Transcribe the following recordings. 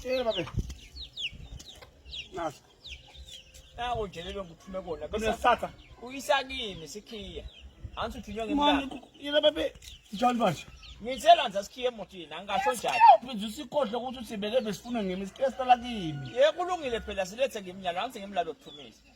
Tshela babe. Nasi. Nawo nje lelo ngiphume kona. Bese satha. Uyisa kimi sikhiya. Anthi uthunywa ngemali. Manje yena babe. Njalo manje. Ngithela nje sikhiye emotini angasho njalo. Uphinde usikhohle ukuthi usibeke besifuna ngemi sikesela kimi. Ye kulungile phela silethe ngimnyalo anthi ngimlalo kuthumisa.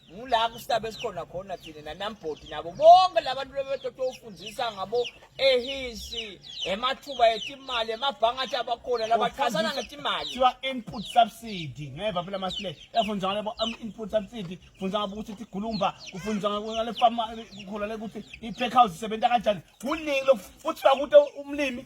ngula kusitaba esikhona khona thina nanambhodi nabo bonke labantu bebetoto ufundisa ngabo ehisi emathuba etimali emabhanga athi abakhona labachazana ngetimali kuthiwa input subsidy ngeva phela masile yafundisa ngale bo um, input subsidy fundisa ngabo ukuthi tigulumba kufundisa ngale farm kukhona le ukuthi i-pack house isebenza kanjani kuningi lokuthiwa kuthi umlimi